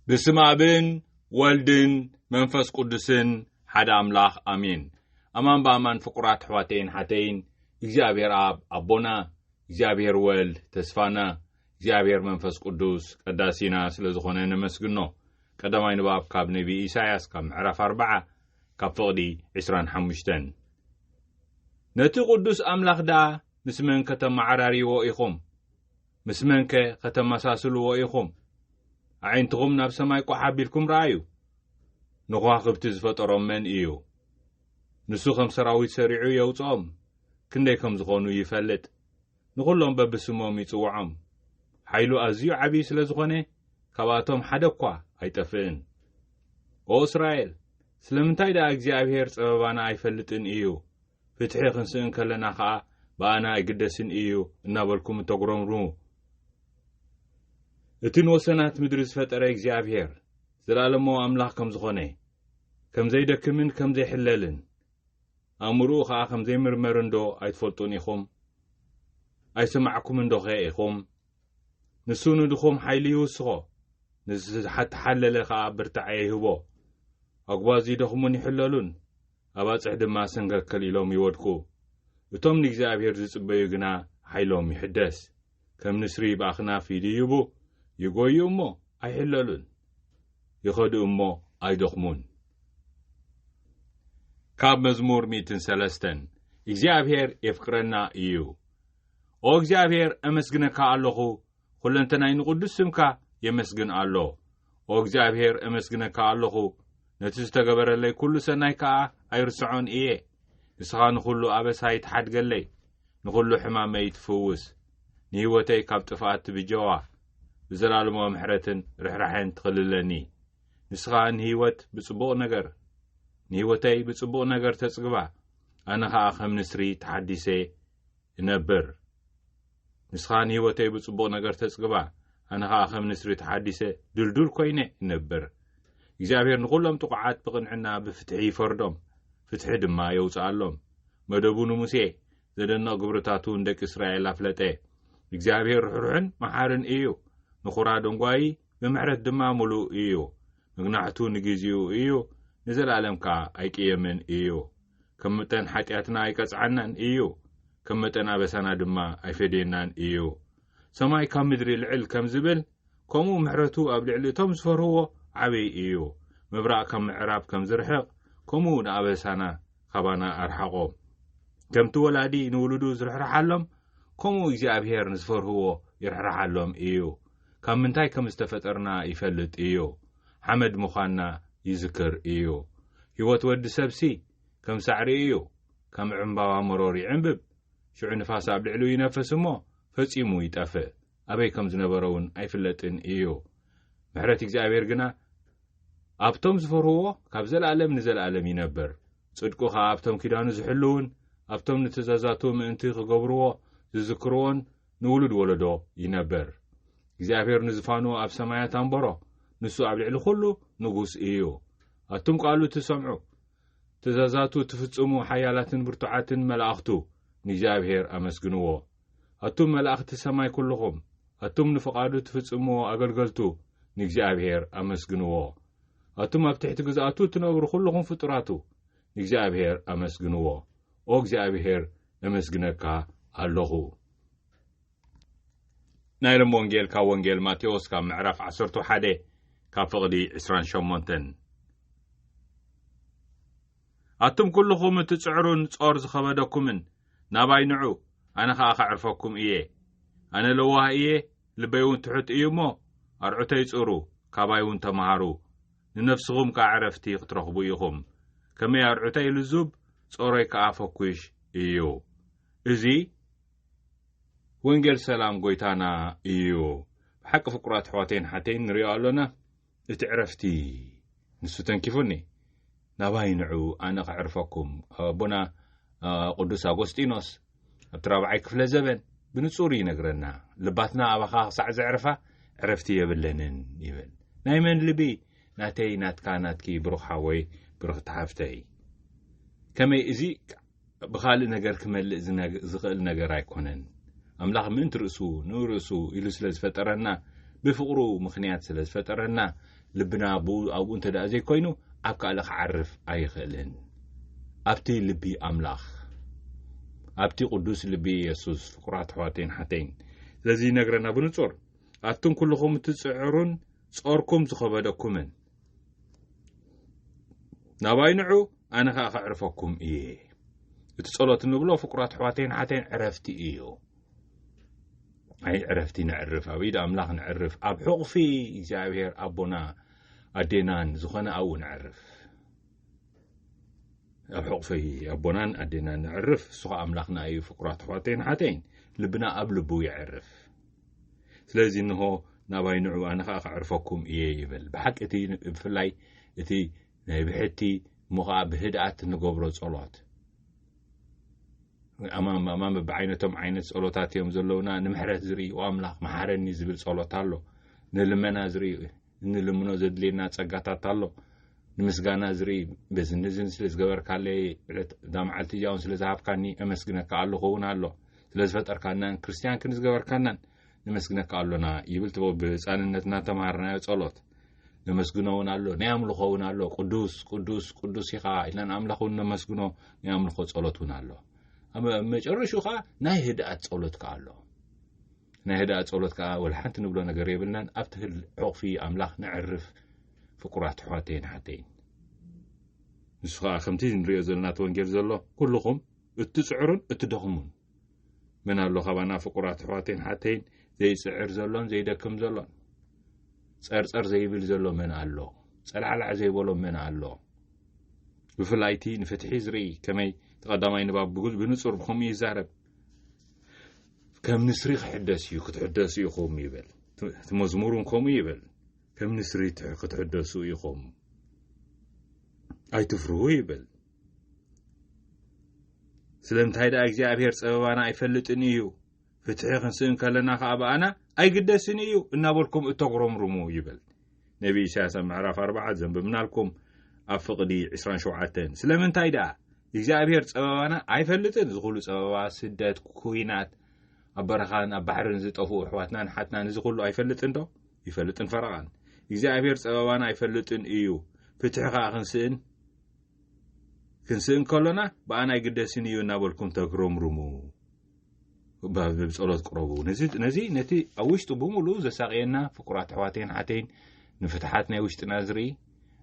ብስም ኣብን ወልድን መንፈስ ቅዱስን ሓደ ኣምላኽ ኣሜን። ኣማን ብኣማን ፍቁራት ኣሕዋተይን ሓተይን እግዚኣብሔር ኣብ ኣቦና እግዚኣብሔር ወልድ ተስፋና እግዚኣብሔር መንፈስ ቅዱስ ቀዳሲና ስለ ዝኾነ ነመስግኖ። ቀዳማይ ንባብ ካብ ነቢ ኢሳያስ ካብ ምዕራፍ ኣርዓ ካብ ፍቕዲ 25 ነቲ ቅዱስ ኣምላኽ ደኣ ምስ መን ከተመዓራርይዎ ኢኹም? ምስ መንከ ኸተመሳስልዎ ኢኹም? ኣዒንትኹም ናብ ሰማይ ቋሕ ኣቢልኩም ርኣዩ። ንኸዋኽብቲ ዝፈጠሮም መን እዩ? ንሱ ኸም ሰራዊት ሰሪዑ የውጽኦም፣ ክንደይ ከም ዝዀኑ ይፈልጥ፣ ንዅሎም በብስሞም ይጽውዖም። ሓይሉ ኣዝዩ ዓብዪ ስለ ዝዀነ፣ ካብኣቶም ሓደ እኳ ኣይጠፍእን። ኦ እስራኤል፣ ስለምንታይ ደኣ እግዚኣብሄር ጸበባና ኣይፈልጥን እዩ? ፍትሒ ክንስእን ከለና ከኣ ብኣና ኣይግደስን እዩ እናበልኩም እተጉረምርሙ እቲ ንወሰናት ምድሪ ዝፈጠረ እግዚኣብሔር ዘላለማዊ ኣምላኽ ከም ዝኾነ ከም ዘይደክምን ከም ዘይሕለልን ኣእምርኡ ከኣ ከም ዘይምርመርን ዶ ኣይትፈልጡን ኢኹም ኣይሰማዕኩምን ዶኸ ኢኹም ንሱ ንድኹም ሓይሊ ይውስኾ ንዝተሓለለ ከኣ ብርታዐ ይህቦ ኣጉባዝ ይደኽሙን ይሕለሉን ኣባጽሕ ድማ ሰንከልከል ኢሎም ይወድቁ። እቶም ንእግዚኣብሄር ዚጽበዩ ግና ሓይሎም ይሕደስ። ከም ንስሪ ብኣኽናፍ ይድይቡ፣ ይጐዩ እሞ ኣይሕለሉን፣ ይኸዱ እሞ ኣይደኽሙን። ካብ መዝሙር ሚእትን ሰለስተን እግዚኣብሄር የፍቅረና እዩ። ኦ እግዚኣብሄር፣ ኣመስግነካ ኣሎኹ፣ ዅለንተናይ ንቕዱስ ስምካ የመስግን ኣሎ። ኦ እግዚኣብሄር፣ ኤመስግነካ ኣሎኹ፣ ነቲ ዝተገበረለይ ኵሉ ሰናይ ከኣ ኣይርስዖን እየ። ንስኻ ንዅሉ ኣበሳይ ትሓድገለይ፣ ንዅሉ ሕማመይ ትፍውስ፣ ንህይወተይ ካብ ጥፍኣት ትብጀዋ፣ ብዘላለማዊ ምሕረትን ርሕራሐን ትኽልለኒ። ንስኻ ንህይወት ብጽቡቕ ነገር ንህይወተይ ብጽቡቕ ነገር ተጽግባ፣ ኣነ ኸኣ ከም ንስሪ ተሓዲሰ እነብር። ንስኻ ንህይወተይ ብጽቡቕ ነገር ተጽግባ፣ ኣነ ኸኣ ኸም ንስሪ ተሓዲሰ ድልዱል ኰይነ እነብር። እግዚኣብሄር ንዅሎም ጥቑዓት ብቕንዕና ብፍትሒ ይፈርዶም፣ ፍትሒ ድማ የውጽኣሎም። መደቡ ንሙሴ፣ ዘደንቕ ግብርታቱ ንደቂ እስራኤል ኣፍለጠ። እግዚኣብሄር ርሕሩሕን መሓርን እዩ፣ ንዅራ ደንጓዪ፣ ብምሕረት ድማ ምሉእ እዩ። መግናሕቱ ንግዜኡ እዩ፣ ንዘለኣለም ከኣ ኣይቅየምን እዩ። ከም መጠን ሓጢኣትና ኣይቀጽዓናን እዩ፣ ከም መጠን ኣበሳና ድማ ኣይፈድየናን እዩ። ሰማይ ካብ ምድሪ ልዕል ከም ዝብል፣ ከምኡ ምሕረቱ ኣብ ልዕሊ እቶም ዝፈርህዎ ዓበይ እዩ። ምብራቕ ካብ ምዕራብ ከም ዝርሕቕ፣ ከምኡ ንኣበሳና ኻባና ኣርሓቖ። ከምቲ ወላዲ ንውሉዱ ዝርሕርሓሎም፣ ከምኡ እግዚኣብሄር ንዝፈርህዎ ይርሕርሓሎም እዩ። ካብ ምንታይ ከም ዝተፈጠርና ይፈልጥ እዩ። ሓመድ ምዃንና ይዝክር እዩ። ህይወት ወዲ ሰብሲ ከም ሳዕሪ እዩ፣ ከም ዕምባባ መሮር ይዕምብብ፣ ሽዑ ንፋስ ኣብ ልዕሊኡ ይነፍስ እሞ ፈጺሙ ይጠፍእ፣ ኣበይ ከም ዝነበረውን ኣይፍለጥን እዩ። ምሕረት እግዚኣብሔር ግና ኣብቶም ዝፈርህዎ ካብ ዘለኣለም ንዘለኣለም ይነብር፣ ጽድቁ ኸኣ ኣብቶም ኪዳኑ ዝሕልዉን ኣብቶም ንትእዛዛቱ ምእንቲ ኽገብርዎ ዝዝክርዎን ንውሉድ ወለዶ ይነብር። እግዚኣብሄር ንዝፋኑ ኣብ ሰማያት ኣንበሮ፣ ንሱ ኣብ ልዕሊ ዅሉ ንጉስ እዩ። ኣቱም ቃሉ እትሰምዑ፣ ትእዛዛቱ እትፍጽሙ ሓያላትን ብርቱዓትን መላእኽቱ፣ ንእግዚኣብሄር ኣመስግንዎ። ኣቱም መላእኽቲ ሰማይ ኵልኹም፣ ኣቱም ንፍቓዱ እትፍጽምዎ ኣገልገልቱ፣ ንእግዚኣብሄር ኣመስግንዎ። ኣቱም ኣብ ትሕቲ ግዝኣቱ እትነብሩ ዅልኹም ፍጡራቱ፣ ንእግዚኣብሄር ኣመስግንዎ። ኦ እግዚኣብሄር እምስግነካ ኣሎኹ። ናይ ሎም ወንጌል ካብ ወንጌል ማቴዎስ ካብ ምዕራፍ ዓሰርቱ ሓደ ካብ ፍቕዲ ዕስራን ሸሞንተን ኣቱም ኩልኹም እትጽዕሩን ጾር ዝኸበደኩምን ናባይ ንዑ ኣነ ኸኣ ኸዕርፈኩም እየ ኣነ ለዋህ እየ ልበይ እውን ትሑት እዩ እሞ ኣርዑተይ ጽሩ ካባይ እውን ተምሃሩ ንነፍስኹም ከኣ ዕረፍቲ ክትረኽቡ ኢኹም። ከመይ ኣርዑተይ ልዙብ፣ ጾሮይ ከኣ ፈኲሽ እዩ። እዚ ወንጌል ሰላም ጐይታና እዩ። ብሓቂ ፍቁራት ኣሕዋተይን ኣሓተይን ንርእዮ ኣሎና። እቲ ዕረፍቲ ንሱ ተንኪፉኒ። ናባይ ንዑ ኣነ ከዕርፈኩም። ኣቦና ቅዱስ ኣጐስጢኖስ። ኣብቲ ራብዓይ ክፍለ ዘበን ብንጹር ይነግረና ልባትና ኣባኻ ክሳዕ ዘዕርፋ ዕረፍቲ የብለንን ይብል ናይ መን ልቢ ናተይ ናትካ ናትኪ ብሩኽ ሓወይ ብሩኽቲ ሓፍተይ ከመይ እዚ ብኻልእ ነገር ክመልእ ዝኽእል ነገር ኣይኮነን ኣምላኽ ምእንቲ ርእሱ ንርእሱ ኢሉ ስለ ዝፈጠረና ብፍቕሩ ምኽንያት ስለ ዝፈጠረና ልብና ብኡ ኣብኡ እንተ ዘይኮይኑ ኣብ ካልእ ክዓርፍ ኣይኽእልን። ኣብቲ ልቢ ኣምላኽ፣ ኣብቲ ቅዱስ ልቢ የሱስ ፍቁራት ኣሕዋተይን ሓተይን ስለዚ ይነግረና ብንጹር ኣቱም ኩልኹም እትጽዕሩን ጾርኩም ዝኸበደኩምን ናባይ ንዑ ኣነ ከኣ ከዕርፈኩም እየ። እቲ ጸሎት ንብሎ ፍቁራት ኣሕዋተይን ሓተይን ዕረፍቲ እዩ። ኣይ ዕረፍቲ ነዕርፍ ኣብ ኢድ ኣምላኽ ነዕርፍ ኣብ ሕቑፊ እግዚኣብሔር ኣቦና ኣዴናን ዝኾነ ኣብኡ ነዕርፍ ኣብ ሕቑፊ ኣቦናን ኣዴናን ነዕርፍ እሱ ኸ ኣምላኽና እዩ ፍቁራት ኣሕዋተይን ሓተይን ልብና ኣብ ልቡ የዕርፍ ስለዚ እንሆ ናባይ ንዑ ኣነ ከዓ ከዕርፈኩም እየ ይብል ብሓቂ እቲ ብፍላይ እቲ ናይ ብሕቲ እሞ ከዓ ብህድኣት ንገብሮ ጸሎት ኣማማማ ብዓይነቶም ዓይነት ጸሎታት እዮም ዘለውና ንምሕረት ዝርኢ ኣምላኽ መሓረኒ ዝብል ጸሎት ኣሎ ንልመና ዝርኢ እንልምኖ ዘድልየና ጸጋታት ኣሎ ንምስጋና ዝርኢ በዝንዝን ስለ ዝገበርካለይ ዕለት እዛ መዓልቲ እዚኣውን ስለ ዝሃብካኒ ኣመስግነካ ኣለኹ እውን ኣሎ ስለ ዝፈጠርካናን ክርስትያን ክንዝገበርካናን ነመስግነካ ኣሎና ይብል ትቦ ብህፃንነትና ተምሃርናዮ ጸሎት ነመስግኖ እውን ኣሎ ናይ ኣምልኾ እውን ኣሎ ቅዱስ ቅዱስ ቅዱስ ኢኻ ኢልና ኣምላኽ እውን ነመስግኖ ናይ ኣምልኾ ጸሎት እውን ኣሎ ኣብ መጨረሽኡ ከዓ ናይ ህድኣት ጸሎት ከዓ ኣሎ ናይ ህድኣት ጸሎት ከዓ ወላ ሓንቲ ንብሎ ነገር የብልናን ኣብቲ ህል ዕቑፊ ኣምላኽ ነዕርፍ ፍቁራት ኣሕዋተይን ሓተይን ንሱ ከዓ ከምቲ ንሪኦ ዘለና እቲ ወንጌል ዘሎ ኩልኹም እትፅዕሩን እትደኽሙን መን ኣሎ ካባና ፍቁራት ኣሕዋተይን ሓተይን ዘይፅዕር ዘሎን ዘይደክም ዘሎን ፀርፀር ዘይብል ዘሎ መን ኣሎ ፀላዕላዕ ዘይበሎ መን ኣሎ ብፍላይቲ ንፍትሒ ዝርኢ ከመይ ተቀዳማይ ንባብ ብንፁር ብከምኡ ይዛረብ ከም ንስሪ ክሕደስ እዩ ክትሕደሱ ኢኹም ይብል እቲ መዝሙር ን ከምኡ ይብል ከም ንስሪ ክትሕደሱ ኢኹም ኣይትፍርሁ ይብል ስለምንታይ ደኣ እግዚኣብሔር ጸበባና ኣይፈልጥን እዩ ፍትሒ ክንስእን ከለና ከኣ በኣና ኣይግደስን እዩ እናበልኩም እተጉረምርሙ ይብል ነቢ ኢሳያስ ኣብ ምዕራፍ ኣርባዓ ዘንብብናልኩም ኣብ ፍቕዲ 27 ስለምንታይ ደኣ እግዚኣብሔር ጸበባና ኣይፈልጥን እዚ ኩሉ ጸበባ ስደት ኩናት ኣብ በረኻን ኣብ ባሕርን ዝጠፍኡ ኣሕዋትናን ሓትናን እዚ ኩሉ ኣይፈልጥን ዶ ይፈልጥን ፈረቓን እግዚኣብሔር ጸበባና ኣይፈልጥን እዩ ፍትሒ ከኣ ክንስእን ክንስእን ከሎና ብኣና ኣይግደስን እዩ እናበልኩም ተግረምርሙ ብጸሎት ቅረቡ ነዚ ነቲ ኣብ ውሽጡ ብምሉእ ዘሳቅየና ፍቁራት ኣሕዋተይን ሓተይን ንፍትሓት ናይ ውሽጥና ዝርኢ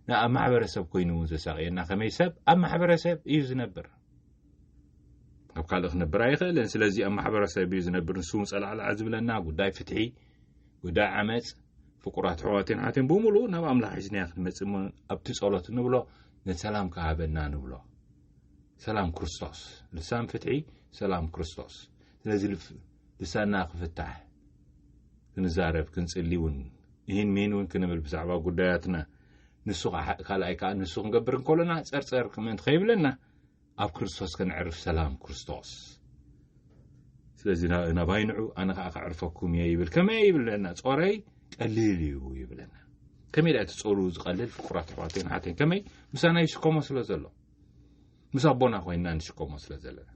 ንኣብ ማሕበረሰብ ኮይኑ እውን ዘሳቅየና ከመይ ሰብ ኣብ ማሕበረሰብ እዩ ዝነብር ኣብ ካልእ ክነብር ኣይኽእልን ስለዚ ኣብ ማሕበረሰብ እዩ ዝነብር ንስውን ጸላዕላዕ ዝብለና ጉዳይ ፍትሒ ጉዳይ ዓመጽ ፍቁራት ኣሕዋትን ኣትን ብምሉኡ ናብ ኣምላኽ ሒዝናዮ ክንመጽእ እሞ ኣብቲ ጸሎት ንብሎ ንሰላም ክሃበና ንብሎ ሰላም ክርስቶስ ልሳን ፍትሒ ሰላም ክርስቶስ ስለዚ ልሳና ክፍታሕ ክንዛረብ ክንጽሊ እውን ይህን ምህን እውን ክንብል ብዛዕባ ጉዳያትና ንሱ ካልኣይ ከዓ ንሱ ክንገብር እንከሎና ጸርጸር ምእንቲ ከይብለና ኣብ ክርስቶስ ከነዕርፍ ሰላም ክርስቶስ ስለዚ ናባይ ንዑ ኣነ ከዓ ከዕርፈኩም እየ ይብል ከመይ ይብለና ጾረይ ቀሊል እዩ ይብለና ከመይ ዳኣ ትጾሩ ዝቀልል ፍቁራት ኣሕዋተይን ሓተይን ከመይ ምሳና ይሽከሞ ስለ ዘሎ ምስ ኣቦና ኮይንና ንሽከሞ ስለ ዘለና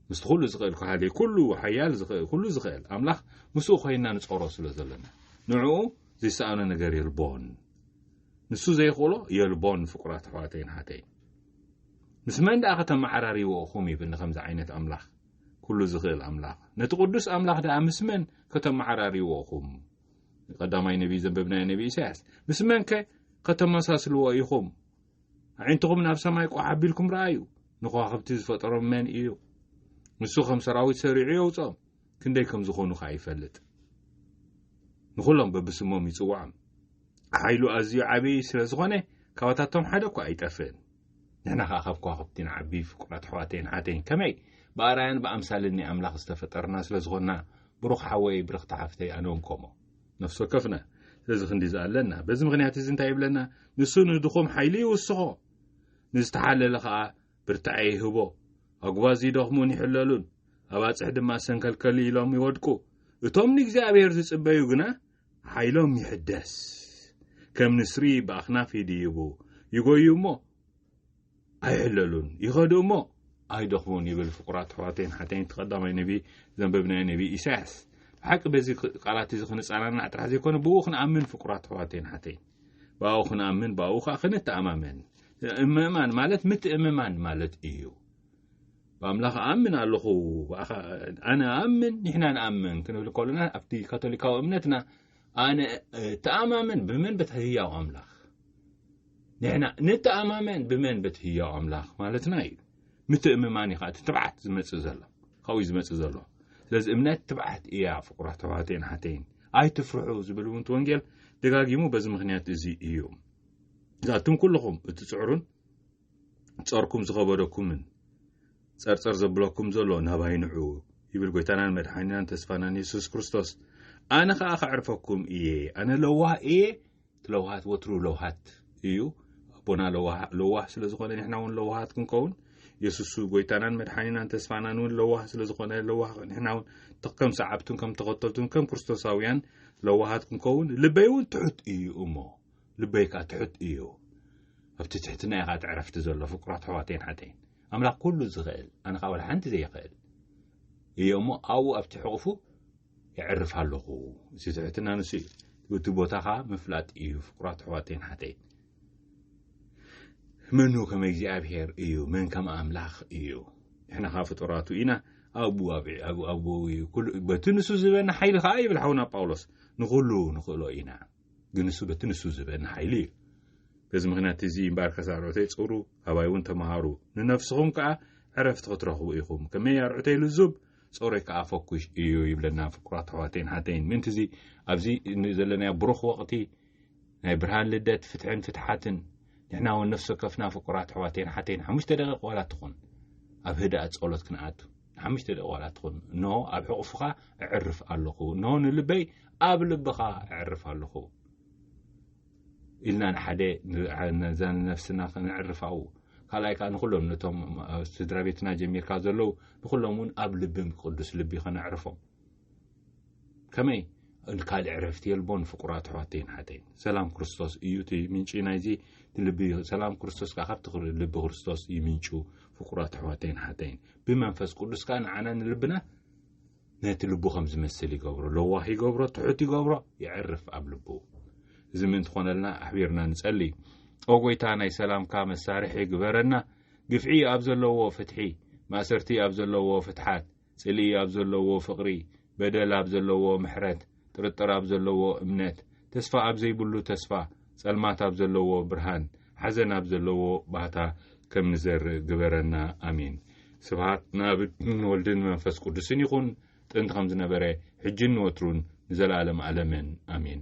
ምስቲ ኩሉ ዝኽእል ከሃሊ ኩሉ ሓያል ዝኽእል ኩሉ ዝኽእል ኣምላኽ ምስኡ ኮይንና ንጾሮ ስለ ዘለና ንዕኡ ዘይሰኣኖ ነገር የልቦን ንሱ ዘይኽእሎ የልቦን ፍቁራት ኣሕዋተይን ሓተይን ምስ መን ደኣ ከተመዓራርይዎ እኹም ይብል ንኸምዚ ዓይነት ኣምላኽ ኩሉ ዝኽእል ኣምላኽ ነቲ ቅዱስ ኣምላኽ ደኣ ምስ መን ከተመዓራርይዎ እኹም ቀዳማይ ነቢይ ዘንበብናዮ ነቢይ ኢሳያስ ምስ መንከ ከተመሳስልዎ ኢኹም ኣዒንትኹም ናብ ሰማይ ቋሕ ኣቢልኩም ረኣዩ ንኸዋኽብቲ ዝፈጠሮም መን እዩ ንሱ ከም ሰራዊት ሰሪዑ የውፅኦም ክንደይ ከም ዝኾኑ ኸኣ ይፈልጥ። ንኹሎም በብስሞም ይጽውዖም። ሓይሉ ኣዝዩ ዓቢ ስለ ዝኾነ ካባታቶም ሓደ እኳ ኣይጠፍእን። ንሕና ኸኣ ካብ ከዋኽብቲ ንዓቢ ፍቁራት ኣሕዋተይን ኣሓተይን። ከመይ? ብኣርኣያን ብኣምሳልን ናይ ኣምላኽ ዝተፈጠርና ስለ ዝኾንና። ብሩኽ ሓወይ፣ ብርኽቲ ሓፍተይ፣ ኣነውን ከምኡ። ነፍሲ ወከፍና ስለዚ ክንዲ እዚ ኣለና። በዚ ምኽንያት እዚ እንታይ ይብለና? ንሱ ንድኹም ሓይሊ ይውስኾ፣ ንዝተሓለለ ኸኣ ብርታዐ ይህቦ። ኣጕባዝ ይደኽሙን ይሕለሉን፣ ኣባጽሕ ድማ ሰንከልከል ኢሎም ይወድቁ። እቶም ንእግዚኣብሄር ዝጽበዩ ግና ሓይሎም ይሕደስ። ከም ንስሪ ብኣኽናፍ ይድይቡ፣ ይጐዩ እሞ ኣይሕለሉን፣ ይኸዱ እሞ ኣይደኽሙን ይብል ፍቑራት ኣሕዋተይን ሓተይን እቲ ቀዳማይ ነቢ ዘንበብናዮ ነቢ ኢሳያስ። ብሓቂ በዚ ቃላት እዚ ክንጸናናዕ ጥራሕ ዘይኮነ ብኡ ክንኣምን ፍቁራት ኣሕዋተይን ሓተይን። ብኣኡ ክንኣምን ብኣኡ ኸኣ ክንተኣማመን ምእማን ማለት ምትእምማን ማለት እዩ ብኣምላኽ ኣምን ኣለኹ ኣነ ኣምን ንሕና ንኣምን ክንብል ከሎና ኣብቲ ካቶሊካዊ እምነትና ኣነ ተኣማመን ብመን በት ህያው ኣምላኽ ንሕና ንተኣማመን ብመን በት ህያው ኣምላኽ ማለትና እዩ ምትእምማን እዩ ከዓ እቲ ትብዓት ዝመፅእ ዘሎ ካብኡ እዩ ዝመጽእ ዘሎ ስለዚ እምነት ትብዓት እያ ፍቁራት ተባሃተይን ሓተይን ኣይትፍርሑ ዝብል እውን ወንጌል ደጋጊሙ በዚ ምክንያት እዚ እዩ እዛቱም ኩልኹም እትጽዕሩን ጸርኩም ዝኸበደኩምን ጸርጸር ዘብለኩም ዘሎ ናባይ ንዑ ይብል ጎይታናን መድሓኒናን ተስፋናን የሱስ ክርስቶስ ኣነ ኸዓ ከዕርፈኩም እየ ኣነ ለዋህ እየ ለውሃት ወትሩ ለውሃት እዩ ኣቦና ለዋህ ለዋህ ስለ ዝኾነ ንሕና እውን ለዋሃት ክንከውን የሱሱ ጎይታናን መድሓኒናን ተስፋናን እውን ለዋህ ስለ ዝኾነ ለዋህ ንሕና እውን ከም ሰዓብቱን ከም ተኸተልቱን ከም ክርስቶሳውያን ለዋሃት ክንከውን ልበይ እውን ትሑት እዩ እሞ ልበይ ከዓ ትሑት እዩ ኣብቲ ትሕትና ኢኻ ትዕረፍቲ ዘሎ ፍቁራት ኣሕዋተይን ሓተይን ኣምላኽ ኩሉ ዝኽእል ኣነ ከኣ ዋላ ሓንቲ ዘይኽእል እየ እሞ ኣብኡ ኣብቲ ሕቑፉ የዕርፍ ኣለኹ እቲ ትሕትና ንሱ እዩ እቲ ቦታኻ ምፍላጥ እዩ ፍቁራት ኣሕዋተይን ሓተይን መኑ ከም እግዚኣብሔር እዩ መን ከም ኣምላኽ እዩ ንሕና ኸዓ ፍጡራቱ ኢና ኣብኡ ኣብኡ እዩ በቲ ንሱ ዝበና ሓይሊ ከዓ ይብል ሓውና ጳውሎስ ንኹሉ ንኽእሎ ኢና ግን ንሱ በቲ ንሱ ዝበን ሓይሊ እዩ በዚ ምክንያት እዚ እምበኣር ከሳርዑተይ ጽሩ ኣባይ እውን ተምሃሩ ንነፍስኹም ከኣ ዕረፍቲ ክትረኽቡ ኢኹም ከመይ ኣርዑተይ ልዙብ ጾረይ ከኣ ፈኩሽ እዩ ይብለና ፍቁራት ኣሕዋተይን ሓተይን ምእንቲ እዚ ኣብዚ ዘለናዮ ብሩኽ ወቕቲ ናይ ብርሃን ልደት ፍትሕን ፍትሓትን ንሕና እውን ነፍሲ ከፍና ፍቁራት ኣሕዋተይን ሓተይን ሓሙሽተ ደቂቕ ዋላ ትኹን ኣብ ህድኣት ጸሎት ክንኣቱ ሓሙሽተ ደቂ ዋላ ትኹን እኖ ኣብ ሕቑፍኻ እዕርፍ ኣለኹ እኖ ንልበይ ኣብ ልብኻ እዕርፍ ኣለኹ ኢልና ንሓደ ነዛ ንነፍስና ክንዕርፍ ኣው ካልኣይ ከዓ ንኩሎም ነቶም ስድራ ቤትና ጀሚርካ ዘለዉ ንኩሎም እውን ኣብ ልብም ቅዱስ ልቢ ከነዕርፎም ከመይ ካልእ ዕረፍቲ የልቦን ፍቁራት ኣሕዋተይን ሓተይን ሰላም ክርስቶስ እዩ እቲ ምንጪ ናይዚ ልቢ እዩ ሰላም ክርስቶስ ከዓ ካብቲ ልቢ ክርስቶስ እዩ ምንጩ ፍቁራት ኣሕዋተይን ሓተይን ብመንፈስ ቅዱስ ከዓ ንዓና ንልብና ነቲ ልቡ ከም ዝመስል ይገብሮ ለዋህ ይገብሮ ትሑት ይገብሮ ይዕርፍ ኣብ ልቡ እዚ ምእንቲ ኮነልና ኣሕቢርና ንጸሊ ኦ ጎይታ ናይ ሰላምካ መሳርሒ ግበረና ግፍዒ ኣብ ዘለዎ ፍትሒ ማእሰርቲ ኣብ ዘለዎ ፍትሓት ጽልኢ ኣብ ዘለዎ ፍቕሪ፣ በደል ኣብ ዘለዎ ምሕረት፣ ጥርጥር ኣብ ዘለዎ እምነት፣ ተስፋ ኣብ ዘይብሉ ተስፋ፣ ጸልማት ኣብ ዘለዎ ብርሃን፣ ሓዘን ኣብ ዘለዎ ባህታ ከም ንዘርእ ግበረና። ኣሜን። ስብሃት ንኣብን ወልድን መንፈስ ቅዱስን ይኹን፣ ጥንቲ ከም ዝነበረ፣ ሕጂን ንወትሩን ንዘለኣለም ኣለምን። ኣሜን።